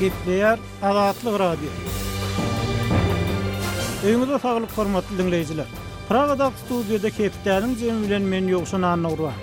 gepleýär Azatlyk Radio. Öýüňize saglyk hormatly diňleýjiler! Pragadag studiýada Hepdäniň jemi bilen men Ýowşan Annagurban.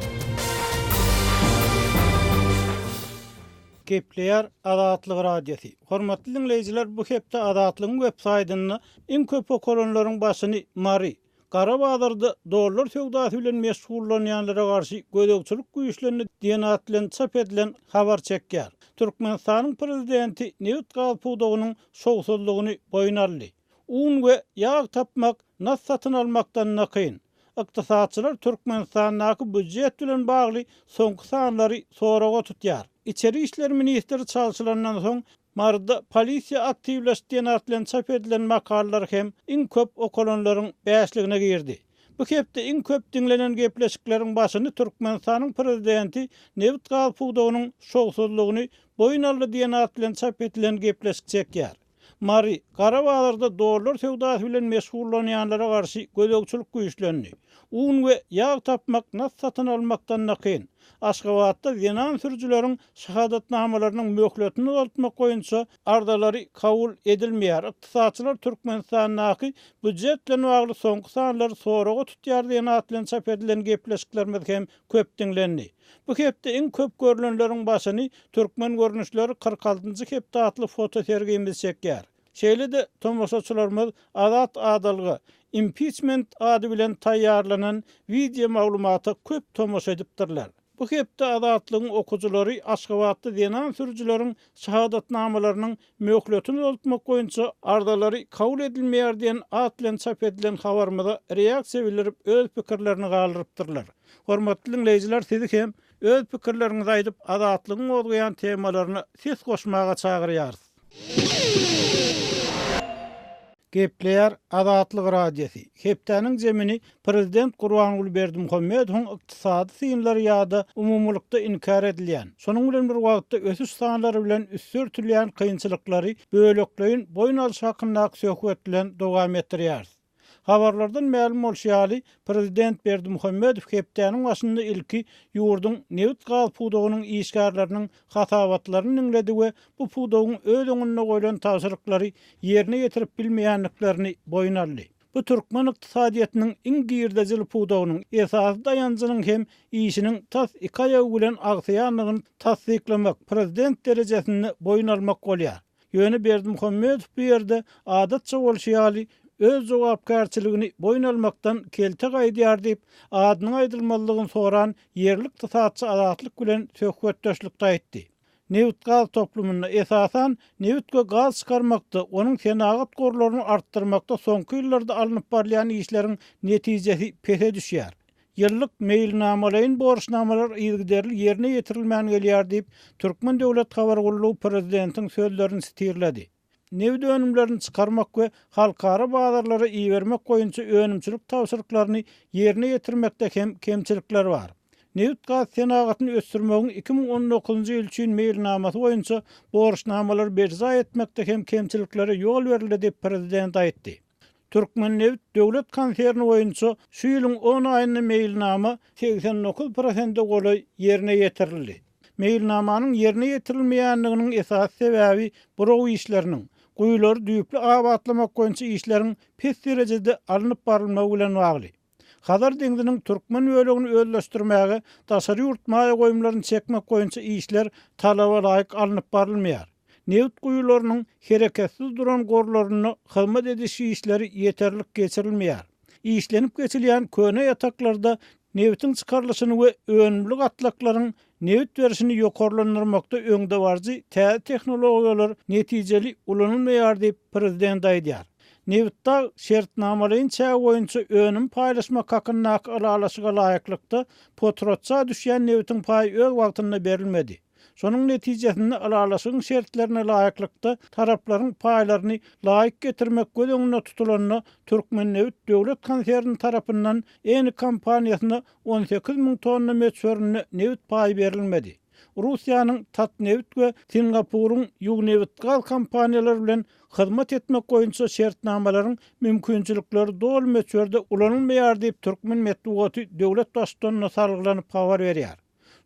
gepleýär Azatlyk Radiosy. Hormatly diňleýjiler, bu hepde Azatlygyň websaýtynda iň köp okalanlaryň başyny Mary, Gara bazarda dollar söwdasy bilen meşgullanýanlara garşy gözegçilik güýçlendi diýen at bilen çap edilen habar çekýär. Türkmenistanyň prezidenti nebit-gaz pudagynyň şowsuzlygyny boýun aldy. Un we ýag tapmak nas satyn almakdan-da kyn. Ykdysatçylar Türkmenistandaky býujet bilen bagly soňky sanlary soraga tutýar. Içeri işler ministri çalşylandan soň Maryda polisiýa aktiwleş diýen at bilen çap edilen makalalar hem iň köp okalanlaryň bäşligine girdi. Bu hepde iň köp diňlenen gepleşikleriň başyny Türkmenistanyň prezidenti nebit-gaz pudagynyň şowsuzlygyny boýun aldy diýen at bilen çap edilen gepleşik çekýär. Mary, Gara bazarda dollar söwdasy bilen meşgullanýanlara garşy gözegçilik güýçlendi. Un we ýag tapmak nas satyn almakdan-da kyn. Aşgabatda zenan sürüjileriň şahadatnamalarynyň möhletini uzaltmak boýunça arzalary kabul edilmeýär. Ykdysatçylar Türkmenistandaky býujet bilen bagly soňky sanlary soraga tutýar diýen at bilen çap edilen gepleşiklerimiz hem köp diňlendi. Bu hepde iň köp görlenleriň başyny Türkmen görnüşleri kyrk altynjy hepde atly fotosergimiz çekýär. Şeýle-de tomaşaçylarymyz Azat Adalga impiçment ady bilen taýýarlanan wideo maglumata köp tomaşa edipdirler. Bu hepde Azatlygyň okyjylary Aşgabatda zenan sürüjileriň şahadatnamalarynyň möhletini uzaltmak boýunça arzalary kabul edilmeýär diýen at bilen çap edilen habarymyza reaksiýa bildirip öz pikirlerini galdyrypdyrlar. Hormatly diňleýjiler sizi hem öz pikirleriňizi aýdyp Azatlygyň gozgaýan temalaryna ses goşmaga çagyrýarys. Gepleýär Azatlyk Radiosy, Hepdäniň zemini prezident Gurbanguly Berdimuhamedowyň ykdysady synlary ýa-da umumylykda inkär edilýän, şonuň bilen bir wagtda ösüş sanlary bilen üsti örtülýän kynçylyklary bölekleýin boýun alyş hakyndaky söhbet bilen dowam etdirýäris. Habarlardan mälim bolşy ýaly, prezident Berdimuhamedow hepdäniň başynda ilki ýurduň nebit-gaz pudagynyň işgärleriniň hasabatlaryny diňledi we bu pudagyň öz öňünde goýlan tabşyryklary ýerine ýetirip bilmeýändiklerini boýun aldy. Bu türkmen ykdysadyýetiniň iň girdejili pudagynyň, esasy daýanjynyň hem işiniň tas iki aýagy bilen agsaýandygyny tassyklamak, prezident derejesinde boýun almak bolýar. Ýöne Berdimuhamedow bu ýerde, adatça bolşy ýaly, öz jogapkärçiligini boýun almakdan kelte gaýdýar diýip, adynyň aýdylmazlygyny soran ýerli ykdysatçy Azatlyk bilen söhbetdeşlikde aýtdy. Nebit-gaz toplumynda, esasan, nebit we gaz çykarmakda, onuň senagat gorlaryny artdyrmakda soňky ýyllarda alnyp barylýan işleriň netijesi pese düşýär. Ýyllyk meýilnamalaýyn borçnamalar yzygiderli ýerine ýetirilmän gelýär diýip, Türkmen döwlet habar gullugy prezidentiň sözlerini sitirledi. Nebit önümlerini çykarmak we halkara bazarlara ibermek boýunça önümçilik tabşyryklaryny ýerine ýetirmekde hem kemçilikler bar. Nebitgaz senagatyny ösdürmegiň iki müň on dokuzynjy ýyl üçin meýilnamasy boýunça borçnamalary berjaý etmekde hem kemçiliklere ýol berildi diýip, prezident aýtdy. Türkmennebit döwlet konserni boýunça şu ýylyň on aýynda meýilnama segsen dokuz prosente golaý ýerine ýetirildi. Meýilnamanyň ýerine ýetirilmeýändiginiň esasy sebäbi buraw işleriniň, guýulary düýpli abatlamak boýunça işleriň pes derejede alnyp barylmagy bilen bagly. Hazar deňziniň türkmen bölegini özleşdirmäge daşary ýurt maýa goýumlaryny çekmek boýunça işler talaba laýyk alnyp barylmaýar. Nebit guýularynyň hereketsiz duran gorlarynda hyzmat ediş işleri ýeterlik geçirilmeýär. Işlenip geçilýän köne ýataklarda nebitiň çykarylyşyny we önümli gatlaklaryň Nebit berişini ýokarlandyrmakda öňdebaryjy täze tehnologiýalar netijeli ulanylmaýar diýip, prezident aýdýar. Nebitdag şertnamalaýyn çägi boýunça önüm paýlaşmak hakyndaky ylalaşyga laýyklykda, potratça düşýän nebitiň paýy öz wagtynda berilmedi. Şonuň netijesinde ylalaşygyň şertlerine laýyklykda taraplaryň paýlaryny laýyk getirmek göz öňünde tutulanda, Türkmennebit döwlet konserni tarapyndan Eni kompaniýasyna on sekiz müň tonna möçberinde nebit paýy berilmedi. Russiýanyň Tatneft we Singapuryň Yugnebitgaz kompaniýalary bilen hyzmat etmek boýunça şertnamalaryň mümkinçilikleri doly möçberde ulanylmaýar diýip türkmen metbugaty döwlet Baştutanyna salgylanyp habar berýär.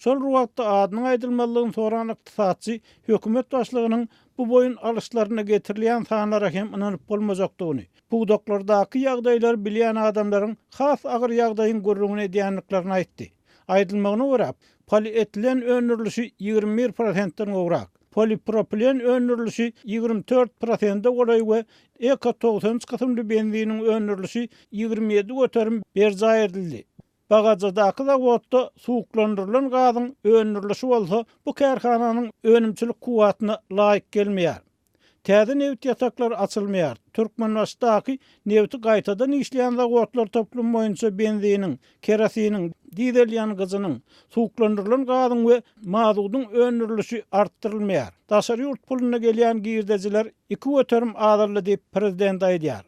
Şol bir wagtda adynyň aýdylmazlygyny soran ykdysatçy hökümet başlygynyň Bu boýun alyşlaryna getirilýän sanlara hem ynanyp bolmajakdygyny, pudaklardaky ýagdaýlary bilýän adamlaryň has agyr ýagdaýyň gürrüňini edýändiklerini aýtdy. Aýdylmagyna görä, polietilen öndürilişi ýigrimi bir prosentden gowrak, polipropilen öndürilişi ýigrimi dört prosende golaý we Eko togsan üç kysymly benziniň öndürilişi ýigrimi ýedi göterim berjaý edildi. Bagajadaky zawodda suwuklandyrylan gazyň öndürilişi bolsa bu kärhananyň önümçilik kuwwatyna laýyk gelmeýär. Täze nebit ýataklary açylmaýar. Türkmenbaşydaky nebiti gaýtadan işleýän zawodlar toplumy boýunça benziniň, kerosiniň, dizel ýangyjynyň, suwuklandyrylan gazyň we mazudyň öndürilişi artdyrylmaýar. Daşary ýurt puluna gelýän girdejiler iki göterim azaldy diýip, prezident aýdýar.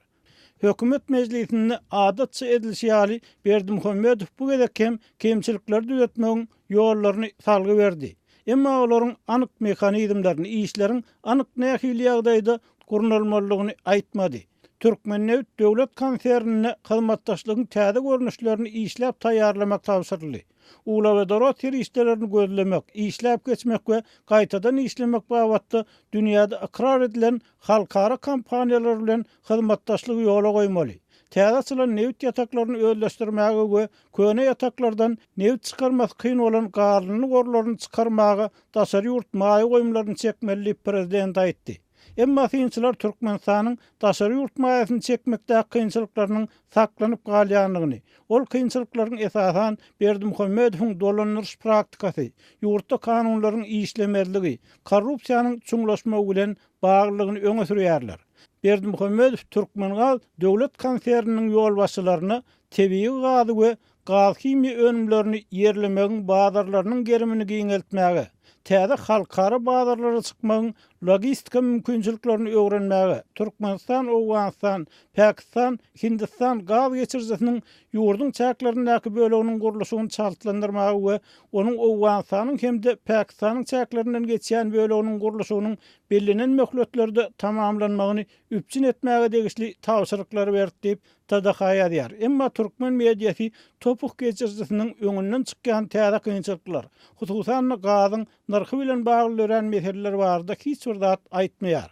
Hökümet mejlisinde adatça edilişi ýaly, Berdimuhamedow bu gezek hem kemçilikleri düzetmegiň ýollaryny salgy berdi. Emma olaryň anyk mehanizmlerini, işleriň anyk nähili ýagdaýda gurnalmalydygyny aýtmady. Türkmennebit döwlet konsernine hyzmatdaşlygyň täze görnüşlerini işläp taýýarlamak tabşyryldy. Uglewodorod serişdelerini gözlemek, işläp geçmek we gaýtadan işlemek babatda dünýäde ykrar edilen halkara kompaniýalary bilen hyzmatdaşlygy ýola goýmaly, täze açylan nebit ýataklaryny özleşdirmäge we köne ýataklardan nebit çykarmasy kyn bolan gazlyny gorlaryny çykarmaga daşary ýurt maýa goýumlaryny çekmeli diýip, prezident aýtdy. Emma synçylar Türkmenistanyň daşary ýurt maýasyny çekmekdäki kynçylyklarynyň saklanyp galýandygyny, ol kynçylyklaryň esasan Berdimuhamedowyň dolandyryş praktikasy, ýurtda kanunlaryň işlemezligi, korrupsiýanyň çuňlaşmagy bilen baglydygyny öňe sürýärler. Berdimuhamedow Türkmengaz döwlet konserniniň ýolbaşçylaryna tebigy gazy we gazhimiýa önümlerini ýerlemegiň bazarlarynyň gerimini giňeltmäge, täze halkara bazarlara çykmagyň logistika mümkinçiliklerini öwrenmäge Türkmenistan, Owganystan, Pakistan, Hindistan gaz geçirijisiniň ýurduň çäklerindäki böleginiň gurluşygyny çaltlandyrmaga we onuň Owganystanyň hem-de Pakistanyň çäklerinden geçýän böleginiň gurluşygynyň bellenen möhletlerde tamamlanmagyny üpjün etmäge degişli tabşyryklary berdi diýip, TDH ýazýar. Emma türkmen mediasy Topuh geçirijisiniň öňünden çykýan täze kynçylyklar, hususan-da gazyň nyrhy bilen bagly dörän meseleler barada hiç bir zat aýtmaýar.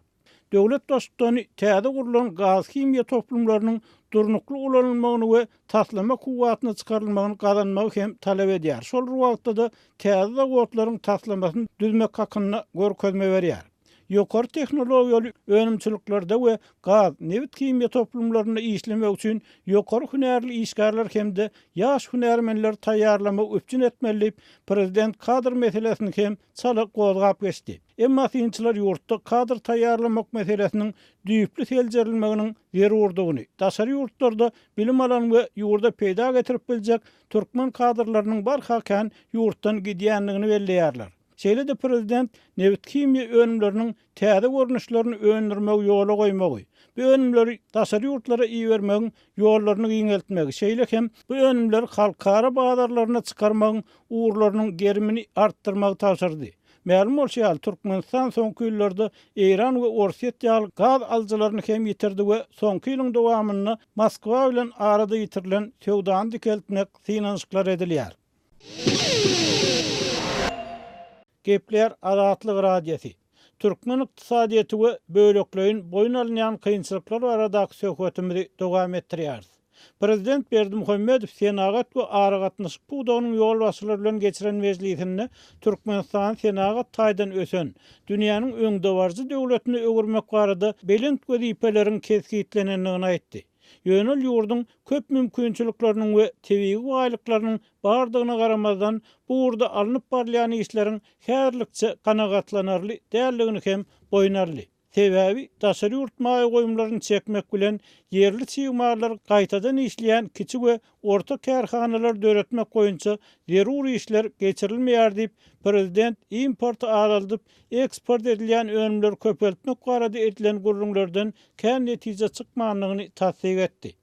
Döwlet Baştutany täze gurlan gazhimiýa toplumlarynyň durnukly ulanylmagyny we taslama kuwwatyna çykarylmagyny gazanmagy hem talap edýär, şol bir wagtda-da täze zawodlaryň taslamasyny düzmek hakynda görkezme berýär. ýokary tehnologiýaly önümçiliklerde we gaz, nebit-himiýa toplumlarynda işlemek üçin ýokary hünärli işgärler hem-de ýaş hünärmenleri taýýarlamagy üpjün etmeli diýip, prezident kadr meselesini hem çala gozgap geçdi. Emma synçylar ýurtda kadr taýýarlamak meselesiniň düýpli seljerilmeginiň zerurdygyny, daşary ýurtlarda bilim alan we ýurda peýda getirip biljek türkmen kadrlarynyň barha kän ýurtdan gidýändigini belleýärler. Şeýle-de prezident nebithimiýa önümleriniň täze görnüşlerini öndürmegi ýola goýmagy, bu önümleri daşary ýurtlara ibermegiň ýollaryny giňeltmegi, şeýle hem bu önümleri halkara bazarlaryna çykarmagyň ugurlarynyň gerimini artdyrmagy tabşyrdy. Mälim bolşy ýaly, Türkmenistan soňky ýyllarda Eýran we Orsýet ýaly gaz alyjylaryny hem ýitirdi we soňky ýylyň dowamynda Moskwa bilen arada ýitirilen söwdany dikeltmek synanyşyklar edilýär. Gepleýär Azatlyk Radiosy. Türkmen ykdysadyýeti we bölekleýin boýun alynýan kynçylyklar baradaky söhbetimizi dowam etdirýäris. Prezident Berdimuhamedow senagat we aragatnaşyk pudagynyň ýolbaşçylary bilen geçiren mejlisinde Türkmenistany senagat taýdan ösen, dünýäniň öňdebaryjy döwletine öwürmek barada belent wezipeleriň kesgitlenendigini aýtdy. Ýöne ol ýurduň köp mümkinçilikleriniň we tebigy baýlyklarynyň bardygyna garamazdan, bu ugurda alnyp barylýan işleriň häzirlikçe kanagatlanarly däldigini hem boýun aldy. Sebäbi daşary ýurt maýa goýumlaryny çekmek bilen ýerli çig mallar gaýtadan işleýän kiçi we Orta kärhanalary döretmek boýunça zerur işler geçirilmeýär diýip, prezident importy azaldyp, eksport edilýän önümleri köpeltmek barada edilen gürrüňlerden kän netije çykmandygyny tassyk etdi.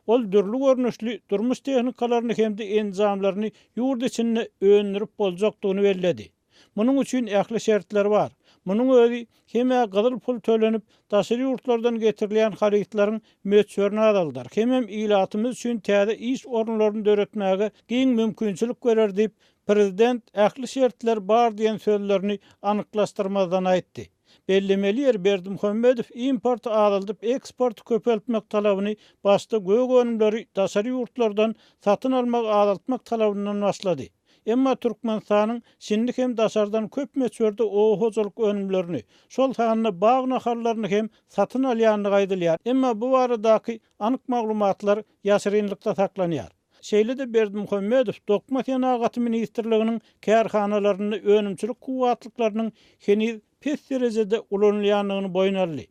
Ol dürli görnüşli durmuş tehnikalaryny hem-de enjamlaryny ýurt içinde öndürip boljakdygyny belledi. Munuň üçin ähli şertler bar. Munuň özi hem-ä gyzyl pul tölenip, daşary ýurtlardan getirilýän harytlaryň möçberini azaldar, hemem ilatymyz üçin täze iş orunlaryny döretmäge giň mümkinçilik berer diýip, prezident ähli şertler bar diýen sözlerini anyklaşdyrmazdan aýtdy. Bellemeli ýeri, Berdimuhamedow importy azaldyp, eksporty köpeltmek talabyny başda gök önümleri daşary ýurtlardan satyn almagy azaltmak talabyndan başlady. Emma Türkmenistanyň şindi hem daşardan köp möçberde oba hojalyk önümlerini, şol sanda bag nahallaryny hem satyn alýandygy aýdylýar, emma bu baradaky anyk maglumatlar ýaşyrynlykda saklanýar. Şeýle-de Berdimuhamedow Dokma senagaty ministrliginiň kärhanalarynda önümçilik kuwwatlyklarynyň heniz pes derejede ulanylýandygyny boýun aldy.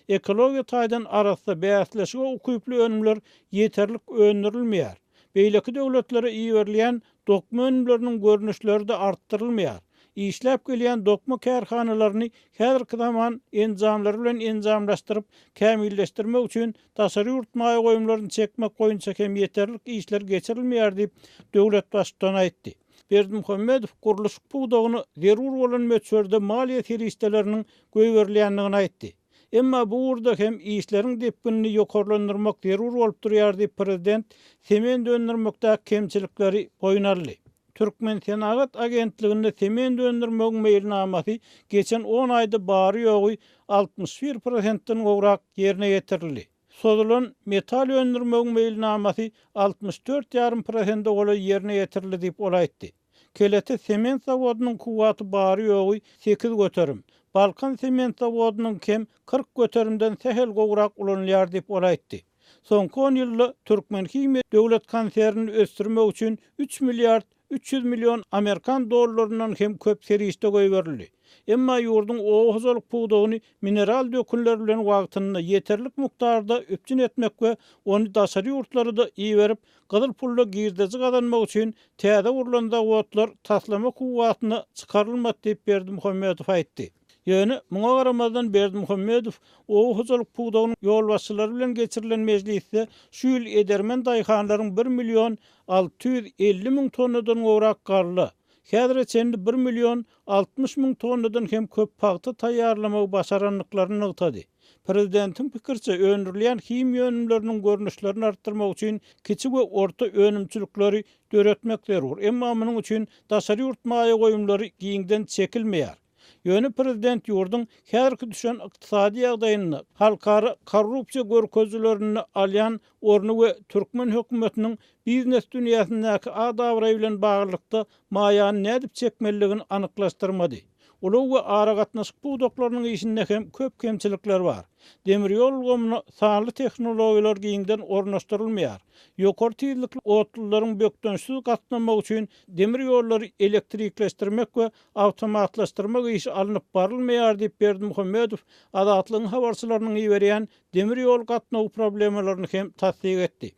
Ekologiýa taýdan arassa, bäsleşige ukyply önümler ýeterlik öndürilmeýär. Beýleki döwletlere iberilýän dokma önümleriniň görnüşleri-de artdyrylmaýar. Işläp gelýän dokma kärhanalaryny häzirki zaman enjamlary bilen enjamlaşdyryp, kämilleşdirmek üçin Daşary ýurt maýa goýumlaryny çekmek boýunça hem ýeterlik işler geçirilmeýär diýip, döwlet Baştutany aýtdy. Berdimuhamedow gurluşyk pudagyna zerur bolan möçberde maliýe serişdeleriniň goýberilýändigini aýtdy. Emma bu ugurda hem işleriň depginini ýokarlandyrmak zerur bolup durýar diýip, prezident sement öndürmekdäki kemçilikleri boýun aldy. Türkmensenagat agentliginde sement öndürmegiň meýilnamasy geçen on aýda bary-ýogy altmyş bir prosentden gowrak ýerine ýetirildi. Sozulan metal öndürmegiň meýilnamasy altmyş dört ýarym prosente golaý ýerine ýetirildi diýip, ol aýtdy. Kelete sement zawodynyň kuwwaty bary-ýogy sekiz göterim, Balkan sement zawodynyňkem kyrk göterimden sähel gowrak ulanylýar diýip, ol aýtdy. Soňky on ýylda Türkmenhimiýa döwlet konsernini ösdürmek üçin üç milliard üç ýüz million amerikan dollaryndan hem köp serişde goýberildi. Emma ýurduň oba hojalyk pudagyny mineral dökünler bilen wagtynda, ýeterlik mukdarda üpjün etmek we ony daşary ýurtlara-da iberip, gyzyl pulla girdeji gazanmak üçin täze gurlan zawodlar taslama kuwwatyna çykarylmady diýip Berdimuhamedow aýtdy. Ýöne, muňa garamazdan, Berdimuhamedow oba hojalyk pudagynyň ýolbaşçylary bilen geçirilen mejlisde şu ýyl edermen daýhanlaryň bir million alty ýüz elli müň tonnadan gowrak galla, häzire çenli bir million altmyş müň tonnadan hem köp pagta taýýarlamagy başarandyklaryny nygtady. Prezidentiň pikiriçe, öndürilýän himiýa önümleriniň görnüşlerini artdyrmak üçin kiçi we orta önümçilikleri döretmek zerur, emma munuň üçin daşary ýurt maýa goýumlary giňden çekilmeýär. Ýöne prezident ýurduň häzirki düşen ykdysady ýagdaýynda, halkara korrupsiýa görkezilerinde alýan orny we türkmen hökümetiniň biznes dünýäsindäki ad-abraýy bilen baglylykda maýany nädip çekmelidigini anyklaşdyrmady. Ulag we aragatnaşyk pudaklarynyň işinde hem köp kemçilikler bar. Demir ýol ulgamyna sanly tehnologiýalar giňden ornaşdyrylmaýar. Ýokary tizlikli otlularyň bökdençsiz gatnamagy üçin demir ýollary elektrikleşdirmek we Awtomatlaşdyrmak işi alnyp barylmaýar diýip, Berdimuhamedow Azatlygyň habarçylarynyň iberýän demir ýol gatnawy problemalaryny hem tassyk etdi.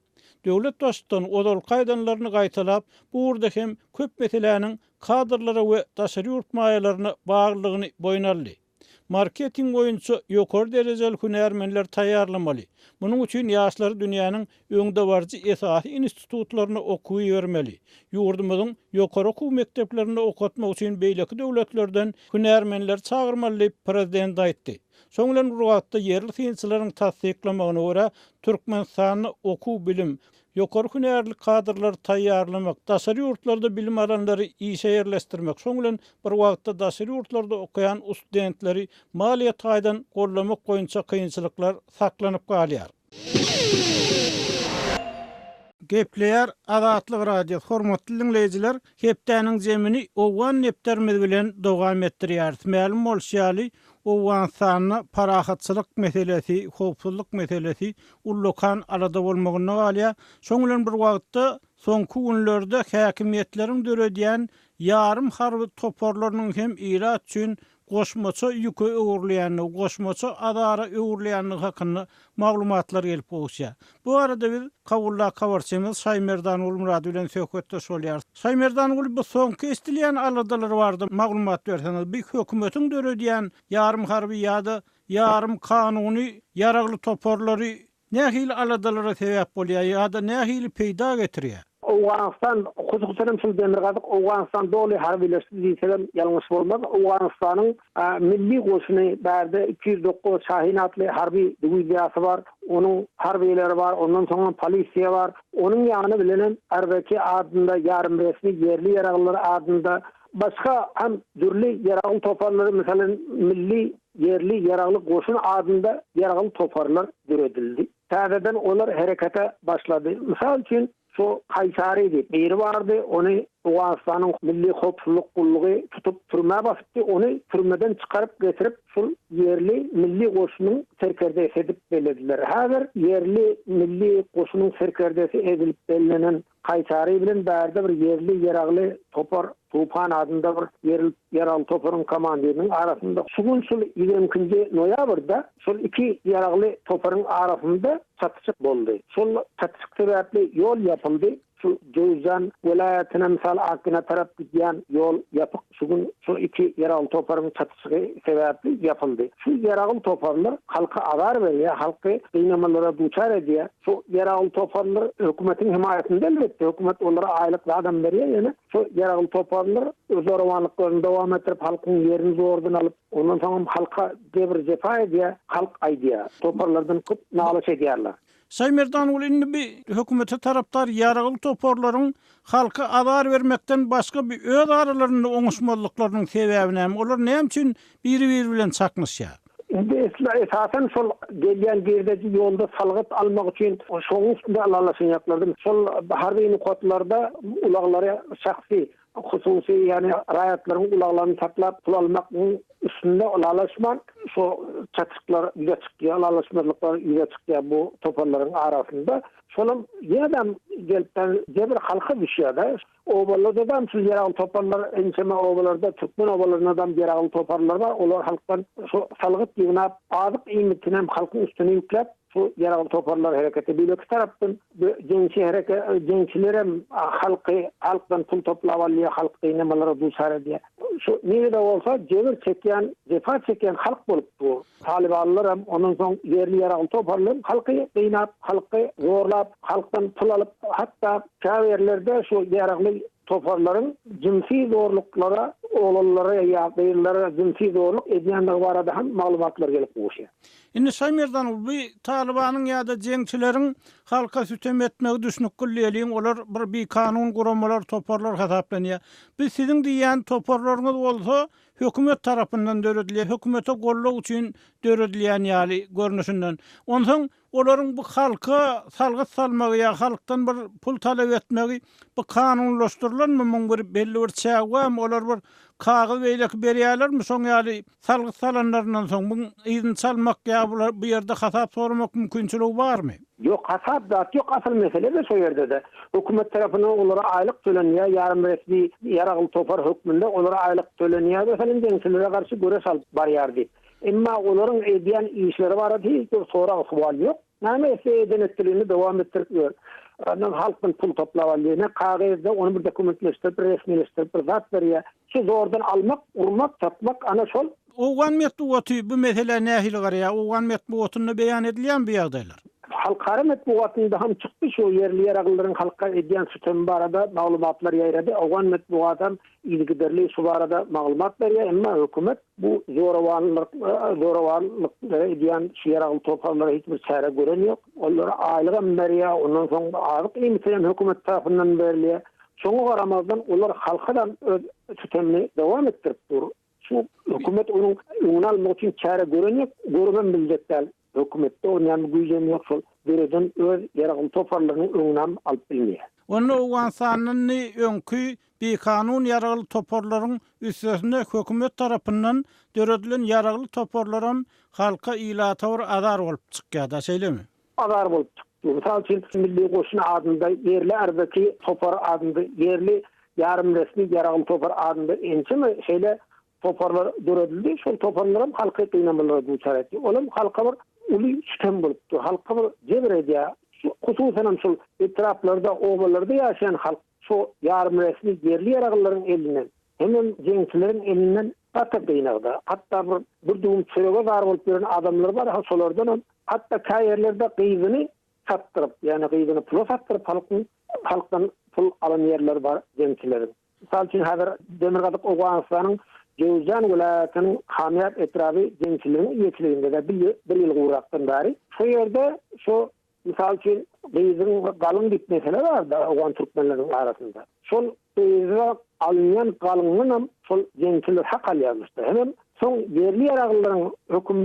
Döwlet Baştutany ozalky aýdanlaryny gaýtalap, bu ugurda hem köp meseläniň kadrlara we daşary ýurt maýalaryna baglylygyny boýun aldy. Marketing boýunça ýokary derejeli hünärmenleri taýýarlamaly. Munuň üçin ýaşlary dünýäniň öňdebaryjy esasy institutlaryna okuwa ibermeli. Ýurdumyzyň ýokary okuw mekdeplerinde okatmak üçin beýleki döwletlerden hünärmenleri çagyrmaly diýip, Prezident aýtdy. Şonuň bilen bir wagtda, ýerli synçylaryň tassyklamagyna görä, Türkmenistanda okuw-bilim, ýokary hünärli kadrlary taýýarlamak, daşary ýurtlarda bilim alanlary işe ýerleşdirmek, şonuň bilen bir wagtda daşary ýurtlarda okaýan ustdentleri maliýe taýdan goldamak boýunça kynçylyklar saklanyp galýar. Gepleýär Azatlyk Radiosy, Hormatly diňleýjiler! Hepdäniň jemini owgan nepderimiz bilen dowam etdirýäris. Mälim bolşy ýaly, Owganystanda parahatçylyk meselesi, howpsuzlyk meselesi ullakan alada bolmagynda galýar. Şoň bilen bir wagtda, soňky günlerde häkimiýetleriň döredýän ýarym harby toparlarynyň hem ilat üçin goşmaça ýüke öwrülýändigi, goşmaça azara öwrülýändigi hakynda maglumatlar gelip gowuşýar. Bu barada biz Kabuldaky habarçymyz Şaýmerdan Gulmyrad bilen söhbetdeş bolýarys. Şaýmerdan Gul, bu soňky eşdilýän aladalar barada maglumat berseňiz, bu hökümetiň döredýän ýarym harby ýa-da ýarym kanuny ýaragly toparlary nähili aladalara sebäp bolýar ýa-da nähili peýda getirýär? Owganystan, hususan hem şol Demirgazyk Owganystan doly harbylaşdy diýsegem ýalňyş bolmaz. Owganystanyň milli goşuny bärde iki ýüz dokuz Şahin atly harby diwiziýasy bar. Onuň harbylary bar, ondan soň hem polisiýa bar. Onuň ýany bilen hem RVK adynda ýarymresmi ýerli ýaraglylar adynda Başga hem dürli ýaragly toparlar, meselem, Milli, ýerli ýaragly goşun adynda ýaragly toparlar döredildi. Täzeden olar herekete başlady. Mysal üçin, şu Kaýsary diýip, biri bardy, ony Owganystanyň Milli howpsuzlyk gullugy tutup, türmä basypdy, ony türmeden çykaryp getirip, şul ýerli milli goşunyň serkerdesi edip bellediler. Häzir ýerli milli goşunyň serkerdesi edilip bellenen Kaýsary bilen bärde bir ýerli ýeragly topar Tupan adynda bir ýerli ýeragly toparyň komandiriniň arasynda şu gün şul ýigrimi ikinji noýabrda şol iki ýeragly toparyň arasynda çatyşyk boldy. Şol çatyşyk sebäpli ýol ýapyldy. Şu Jöwüzjan welaýatyna, mysal Akgina tarap gidýän ýol ýapyk. Şu gün şu iki ýaragly toparyň çatyşygy sebäpli ýapyldy. Şu ýaragly toparlar halka azar berýär, halky gynamalara duçar edýär. Şu ýaragly toparlar hökümetiň hemaýatynda elbetde, hökümet olara aýlyk zadam berýär, ýöne şu ýaragly toparlar öz zorawanlyklaryny dowam etdirip, halkyň ýerini zordan alyp, ondan soňam halka jebir-jepa edýär, halk aýdýar, toparlardan köp nalyş edýärler. Şaýmerdanogly indi bi hökümete tarapdar ýaragly toparlaryň halka azar bermekden başga bi öz aralarynda oňuşmazlyklarynyň sebäbi näme, olar näme üçin biri-biri bilen çaknyşýar? Indi esla esasan şol gelýän girdeji ýolda salgyt almak üçin şoň üstünde alalaşanýaklardy. Şol harby nokatlarda ulaglary şahsy Hususy, ýagny raýatlaryň ulaglaryny saklap pul almagyň üstünde ylalaşman, şu çatyşyklar ýüze çykýar, ylalaşmazlyklar ýüze çykýar bu toparlaryň arasynda. Şolam ýene-dem gelipden jebir halka düşýär-de. Obalardadam şu ýeragly toparlar, ençeme obalarda, türkmen obalaryndadam ýeragly toparlar bar. Olar halkdan şu salgyt ýygnap, azyk iýmitinem halkyň üstüne ýükläp, Şu ýaragly toparlar hereketi beýleki tarapdan jeňçi hereke jeňçilerem halky halkdan pul toplap alýar halk gynamalara duçar edýär. Şu nirede bolsa jebir çekýän jepa çekýän halk bolup dur. Talybanlaram ondan soň ýerli ýaragly toparlaram halky gynap halky zorlap halkdan pul alyp hatda käbirlerde şu ýaragly toparlaryň jynsy zorluklara oglanlara ýa gyzlara jynsy zorluk edýändigi barada hem maglumatlar gelip gowuşýar. Indi şaý merdanov bi talybanyň ýada jeňçileriň halka sütem etmegi düşnükgil diýeliň olar bir bikanun guramalar toparlar hasaplanýa biz siziň diýýän toparlaryňyz bolsa hökümet tarapyndan döredilýä hökümete gollag üçin döredilýän ýaly görnüşinden onsoň olaryň bi halka salgyt salmagy ýa halkdan bir pul talap etmegi bi kanunlaşdyrylanmy muň bir belli bir çägi barmy olar bir kagyz beýleki berýälermi şoň ýaly Salgyt salanlaryndan soň muň yzyny çalmak ýa bular bu ýerde hasap soramak mümkinçiligi barmy? Ýok hasap zat ýok asyl meselede şo ýerdede hökümet tarapyndan olara aýlyk tölenýär ýarym resmi ýaragly topar hökmünde olara aýlyk tölenýär meselem jeňçilere garşy göreş alyp barýar diýip emma olaryň edýän işleri barada hiç bir sorag sowal ýok. Name etse edenetdiligini dowam etdirip ýör. Ondan halkdan pul toplap alýar. Ne kagyzda ony bir dokumentleşdirip, bir resmileşdirip bir zat berýär. Şu zordan almak, urmak, satmak ana şol. Owgan metbugaty bu meselä nähili garaýar? Owgan metbugatynda beýan edilýärmi bu ýagdaýlar? Halkara metbugatynda hem çykdy şu ýerli ýeraglylaryň halka edýän sütemi barada maglumatlar ýaýrady. Owgan metbugaty hem yzygiderli şu barada maglumat berýär. Emma hökümet Bu zorawanlyk, zorawanlyk edýän şu ýaragly toparlara hiç bir çäre gören ýok. Ollara aýlygam berýär, ondan soň azyk-iýmiti hem hökümet tarapyndan berilýär. Şoňa garamazdan, olar halka da öz sütemini dowam etdirip dur. Şu hökümet onuň öňüni almak üçin çäre gören ýok, görübem biljek däl. Hökümetde bolýan bir güýjem ýok şol döreden öz ýaragly toparlarynyň öňünem alyp bilmeýä. Onda Owganystandan ni öňki bikanun ýaragly toparlaryň üstesine hökümet tarapyndan döredilen ýaragly toparlaram halka ilata bir azar bolup çykýada şeýlemi? Azar bolup çyk. Mysal üçin milli goşun adynda ýerli ardaki topar adynda ýerli ýarym resmi ýaragly topar adynda ençeme şeýle Toparlar döredildi. Şol toparlaram halky gynamalara duçar etdi. Ol hem halka bir uly sütem bolup dur. Halka bir jebir edýär. Şu hususanam şol etraplarda, obalarda ýaşaýan halk şu ýarymresmi ýerli ýaraglylaryň elinden hemem jeňçileriň elinden gaty gynagda. Hatda bir bir düwüm çörege zar bolup ýören adamlar bar, ha şolardanam hatda käýerlerde gyzyny satdyryp, ýagny gyzyny pula satdyryp halkyň halkdan pul alan ýerleri bar jeňçileriň. Mysal üçin, häzir Demirgazyk Owganystanyň Jowzjan welaýatynyň Hamýat etraby jemçiliginiň eýeçiliginde-de bir ýyl gurakdan bäri şo ýerde şu, mysal üçin, gyzyň galyň diýip mesele bar-da owgan türkmenleriniň arasynda. Şol gyza alynýan galyndanam şol jemçiler hak alýarmyş-da. Hemem soň ýerli-ýaraglylaryň höküm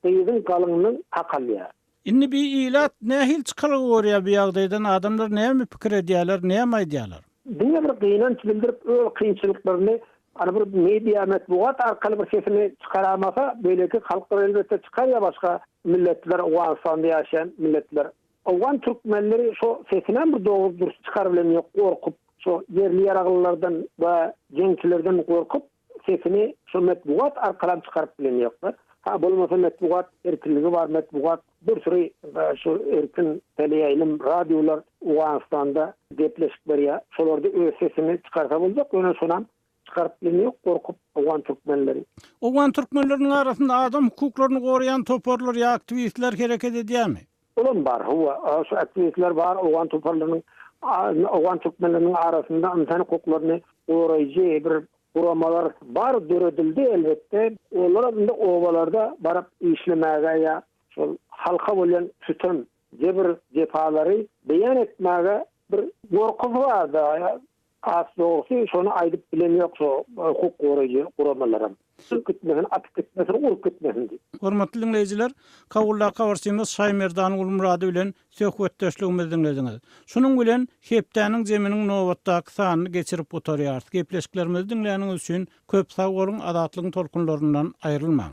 gyzyň galyndan hak alýar. Indi bi ilat nähili çykalga görýär bu ýagdaýdan adamlar näme pikir edýärler näme aýdýarlar. Diňe bir gynanç bildirip öz kynçylyklaryny ana bir media metbugat arkaly bir sesini çykaramasa beýleki halklar elbetde çykar ýa başga milletler Owganystanda ýaşaýan milletler. Owgan türkmenleri şo sesinem bir dogry dürs çykaryp bilen ýok gorkup şo ýerli ýaraglylardan we jeňçilerden gorkup. Sesini şo metbugat arkalam çykaryp bilen ýokmy? Ha bolmasa metbugat erkinligi bar metbugat bir süri şu erkin teleýaýlym radiolar Owganystanda gepleşik berýär şolarda öz sesini çykarsa boljak ýöne şonam çykaryp bilen ýok gorkup owgan türkmenleri. Owgan türkmenleriniň arasynda adam hukuklaryny goraýan toparlar ýa aktiwistler hereket edýärmi? Olam bar, hawa, şu aktiwistler bar, owgan toparlarynyň, owgan türkmenleriniň arasynda ynsan hukuklaryny goraýjy bir guramalar bar, döredildi, elbetde. Olaram indi obalarda baryp işlemäge ýa şol halka bolýan sütem, jebir-jepalary beýan etmäge bir gorkusy bar-da, Has dogrusy, şony aýdyp bilemýok şu hukuk goraýjy guramalaram. Çykyp gitmesin, atyp gitmesin, urup gitmesin diýip. Hormatly diňleýjiler, Kabuldaky habarçymyz Şaýmerdan Gulmyrady bilen söhbetdeşligimizi diňlediňiz. Şunuň bilen Hepdäniň jeminiň nobatdaky sanyny geçirip gutarýarys. Gepleşiklerimizi diňläniňiz üçin köp sag boluň, Azatlygyň tolkunlaryndan aýrylmaň!